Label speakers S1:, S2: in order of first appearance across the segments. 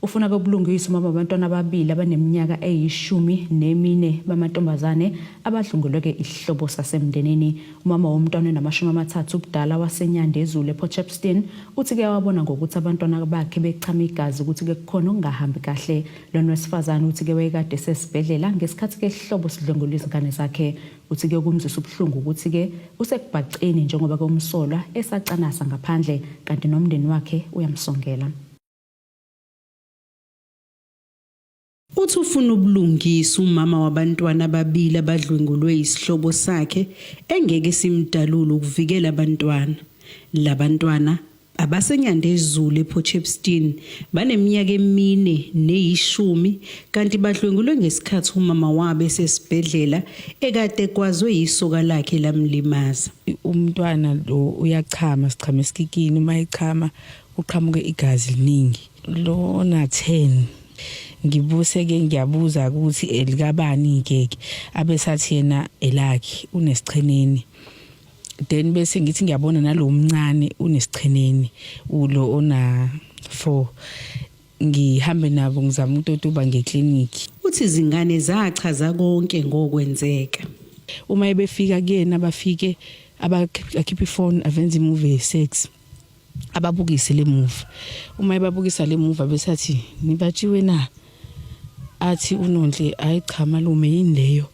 S1: ufuna kobulungiswa umama wabantwana ababili abaneminyaka eyishumi nemine bamantombazane abadlunguleke isihlobo sasemndenini umama womntwana onamashumi amathathu ubudala wasenyandezulu eport shepston uthi kuyawabona ngokuthi abantwana bakhe bechama igazi ukuthi ke kukhona okungahambi kahle lona wesifazane uthi ke wayekade sesibhedlela ngesikhathi ke isihlobo sidlwengula izingane zakhe Uthi ke okumzwisa ubuhlungu ukuthi ke usekubhaceni njengoba ke umsolwa esacanasa ngaphandle kanti nomndeni wakhe uyamsongela.
S2: Uthi ufuna ubulungisa umama wabantwana ababili abadlwengulwe isihlobo sakhe engeke simdalule ukuvikela abantwana. Labantwana abaseNyandezulu ePort Shepstone baneminyaka emine neyishumi kanti badlwengulwe ngesikhathi umama wabo esesibhedlela ekade kwazwe yisoka lakhe lamlimaza. Umntwana
S3: lo uyachama sichama esikikini uma echama uqhamuke igazi liningi. Lona 10 ngibuse ke ngiyabuza ukuthi elikabani ngeke abesathi yena elakhe unesicheneni then bese ngithi ngiyabona nalo mncane unesicheneni ulo ona 4 ngihambe nabo ngizama ukutotuba ngeclinic uthi izingane
S2: zachaza konke ngokwenzeka uma
S3: ebefika kuyena bafike abakhipha ifone avenza imovie sex ababukise le movie uma ebabukisa le movie besathi nibatshiwe na athi unonhle hayi cha malume yini leyo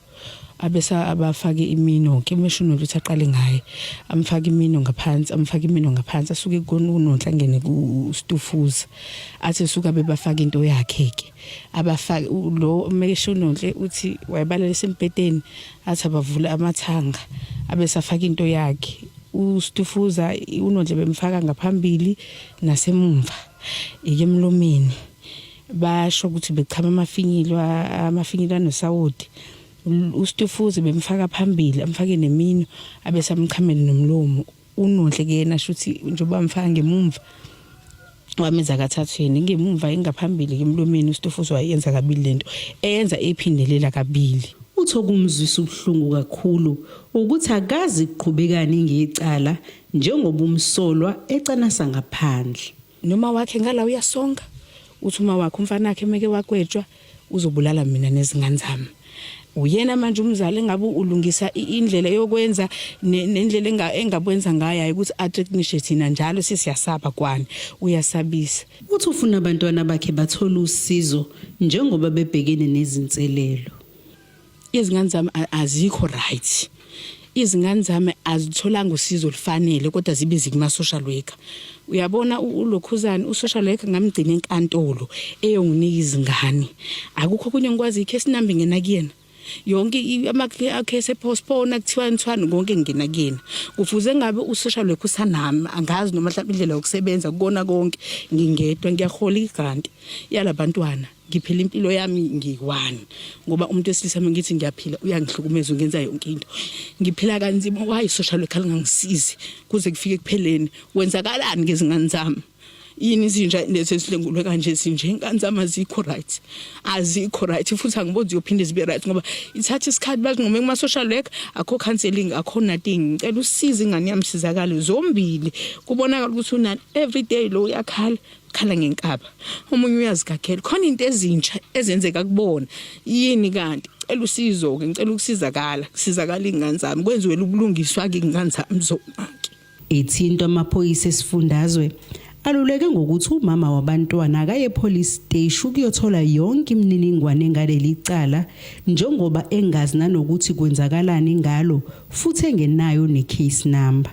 S3: abesa abafake imino ke meshini ukuthi aqale ngaye amfake imino ngaphansi amfake imino ngaphansi asuke konunonhla ngene kustufuza athi suka bebafaka into yakhe ke abafake lo umekesha unonhle uthi wayebalalisa embhedeni athi abavule amathanga abesafaka into yakhe ustufuza unonhle bemfaka ngaphambili nasemumva ike emlomeni basho ukuthi bechama amafinyilo amafinyilo anosawoti ustufuza bemfaka phambili amfake nemino abesamchamela nomlomo unodle kuyena shuthi njengoba mfaka ngemumva wamenza kathathu yena ngemumva engaphambili emlomeni uStofuzi wayenza kabili lento eyenza ephindelela kabili utho kumzwisa
S2: ubuhlungu kakhulu ukuthi akazi kuqhubekani ngecala njengoba umsolwa ecanasa ngaphandle noma wakhe
S3: ngala uyasonga uthi uma wakhe umfana wakhe meke wakwetshwa uzobulala mina nezingane zami uyena manje umzali engabe ulungisa indlela yokwenza nendlela engabwenza ngayo hayi ukuthi atricknishe thina njalo sisiyasaba kwani uyasabisa uthi ufuna
S2: abantwana bakhe bathole usizo njengoba bebhekene nezinselelo
S3: izingane zami azikho right izingane zami azitholanga usizo olufanele kodwa zibe zikuma social worker uyabona ulokhuzana usocial worker ngamgcina enkantolo eyonginika izingane akukho kunye ngikwazi ikhe sinambe ngena kuyena yonke amakhe sepostpone kuthiwa nithwani konke ngena kuyena kufuze ngabe usocial worker usanami angazi noma mhlawumbe indlela yokusebenza kukona konke ngingedwa ngiyahola igrant yalabantwana ngiphila impilo yami ngiyi-one ngoba umuntu wesilisa uma ngithi ngiyaphila uyangihlukumeza ungenza yonke into ngiphila kanzima wayi social worker lingangisizi kuze kufike ekupheleni kwenzakalani ngezingane zami yini izinja lezi ezilengulwe kanje zinje ingane zami azikho right azikho right futhi angiboni ziyophinde zibe right ngoba ithatha isikhathi bazinqume kuma-social work akho counseling akho nothing ngicela usize ingane yami sizakale zombili kubonakala ukuthi unani every day lo uyakhala khala ngenkaba omunye uyazigagela khona into ezintsha ezenzeka kubona yini kanti cela usizo ke ngicela ukusizakala kusizakala ingane zami kwenziwe ubulungiswa ke ingane zami zonake ethintwa
S2: amaphoyisa esifundazwe aluleke ngokuthi umama wabantwana akaye police station ukuyothola yonke imininingwane ngaleli cala njengoba engazi nanokuthi kwenzakalani ngalo futhi engenayo ne case number